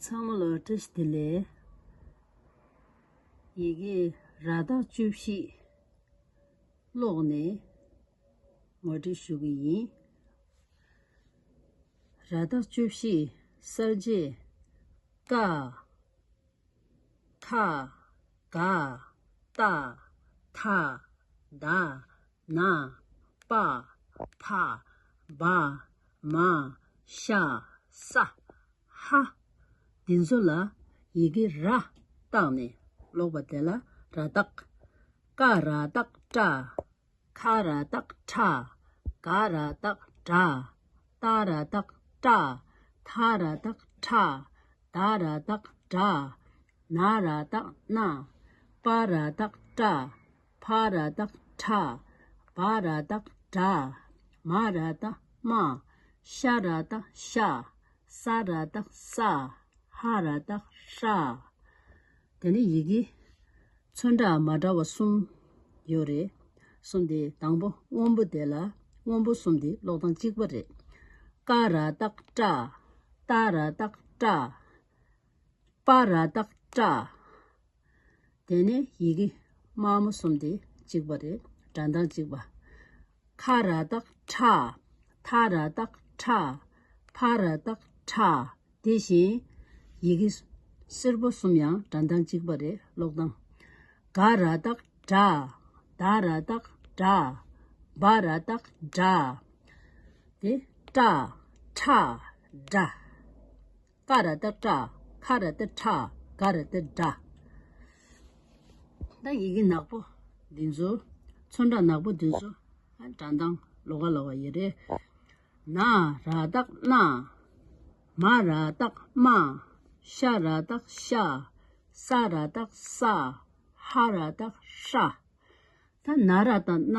ཚང་མ་ལ་བཀྲ་ཤིས་བདེ་ལེགས། ཡི་གེ་ར་རྟགས་བཅུ་བཞི་ཀློག་ནས་ངོ་སྤྲོད་ཞུ་གི་ཡིན། ར་རྟགས་བཅུ་བཞི་གསར་བརྗེ་ཀ། ཐ། ག། ཏ། ཐ། ད། ན། པ། ཕ། བ། མ། ཤ། ས། ཧ། འདི་ཚོ་ལ་ཡི་གེ་ར་བཏགས་ནས་ཀློག་པ་དེ་ལ་ར་བཏགས། ཀ་ར་བཏགས་ཀྲ་ཁ་ར་སྟག་ཁྲ། ག་ར་སྟག་བྲ། ཏ་ར་སྟག་བཀྲ། ཐ་ར་སྟག་ཁྲ། ད་ར་སྟག་བྲ། ན་ར་སྟག་བསྣ། པ་ར་སྟག་བཀྲ། ཕ་ར་སྟག་ཁྲ། བ་ར་སྟག་བྲ། མ་ར་སྟག་སྨ། ཤ་ར་སྟག་ཤ། ས་ར་སྟག་ས། ཧ་ར་སྟག་ཧྲ། དེ་ནི་ཡི་གེ། ཚོན་འདྲ་མ་འདྲ་བ་གསུམ་ཡོད་རེད། གསུམ་དེ་དང་པོ་སྔོན་པོ་དེ་ལ་སྔོན་པོ་གསུམ་དེ་ཀློག་སྟངས་གཅིག་པ་རེད། ཀ་ར་ཏག་ཀྲ། ཏ་ར་ཏག་ཀྲ། པ་ར་ཏག་ཀྲ། དེ་ནི་ཡི་གེ། དམའ་མོ་གསུམ་དེ་གཅིག་པ་རེད། སྒྲ་མདངས་གཅིག་པ། ཁ་ར་དག་ཁྲ། ཐ་ར་དག་ཁྲ། ཕ་ར་དག་ཁྲ། དེ་བཞིན། ཡི་གེ། སེར་པོ་གསུམ་ཡང་སྒྲ་མདངས་གཅིག་པ་རེད་ཀློག་སྟངས། ག་ར་དག་གྲ། ད་ར་དག་དྲ། བ་ར་དག་བྲ། དེ། ཀྲ། ཁྲ། སྒྲ། ཀ་ར་ཏཱ་ཀྲ། ཁ་ར་ཏཱི་ཁྲ། ག་ར་ཏཱི་གྲ། ད་ཡི་གེ་ནག་པོ་འདི་ཚོ། ཚོན་ཁྲ་ནག་པོ་འདི་ཚོ། དྲ་མདངས་ལོ་ག་ལ་བ་ཡི་རེད། ན་ར་ཏཱ་ན། མ་ར་ཏཱ་མ། ཤ་ར་ཏཱ་ཤ། ས་ར་ཏཱ་ས། ཧ་ར་ཏཱ་ཧྲ། ད་ན་ར་ཏཱ་ན།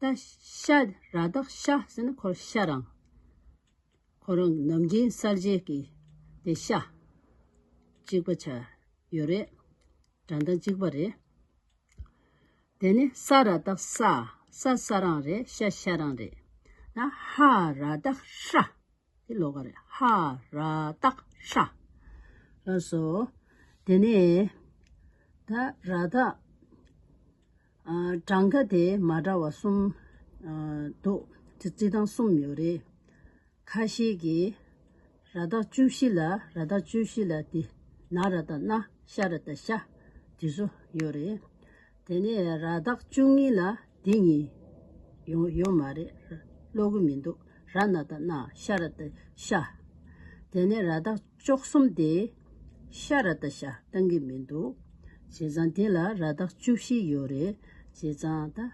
ཏཱ་ཤ་ར་དྭགས་ཤ་ཟེར་ན་ཁོ་རང་ཤ་རང། ཁོ་རང་ནམ་རྒྱུན་གསར་བརྗེ་གི་དེ་ཤ། གཅིག་པ་ཆ་ཡོད་རེད། དགྲ་མདངས་གཅིག་པ་རེད། དེ་ནི་ས་ར་དྭགས་ས། ས་ས་རང་རེད་ཤ་ཤ་རང་རེད། ན་ཧ་ར་དྭགས་ཧྲ། དེ་ལོག་གར་ཧ་ར་ཏག་ཧྲ། ལ་སོགས། དེ་ནས་ད་ར་ཏག། གྲངས་ཀ་དེ་མ་འདྲ་བ་གསུམ་འདུག་ཅེ་རྩིས་དང་གསུམ་ཡོད་རེད། ཁ་ཤས་ཀྱིས་ར་ཏག་བཅུ་བཞི་ལ་ར་ཏག་བཅུ་བཞི་ལ་དེ་ན་ར་ཏག་ན་ཤ་ར་ཏག་ཤ། དེ་ཚོ་ཡོད་རེད། དེ་ནས་ར་རྟགས་བཅུ་གཉིས་ལ་འདི་གཉིས། ཡོང་ཡོད་མ་རེད། ཀློག་གི་མི་འདུག་ར་ན་ད་ན་ཤ་ར་ད་ཤ། དེ་ནས་ར་རྟགས་བཅོ་གསུམ་སྟེ། ཤ་ར་ད་ཤ་བཏང་གི་མི་འདུག་བྱས་ཙང་དེ་ལ་ར་རྟགས་བཅུ་བཞི་ཡོད་རེད་བྱས་ཙང་ད།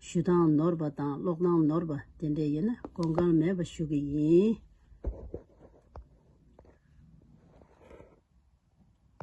ཞུ་སྟངས་ནོར་བ་དང་ཀློག་སྟངས་ནོར་བ་དེ་འདྲས་ཡོད་ན་གོ་འགངས་མེད་པ་ཞུ་གི་ཡིན།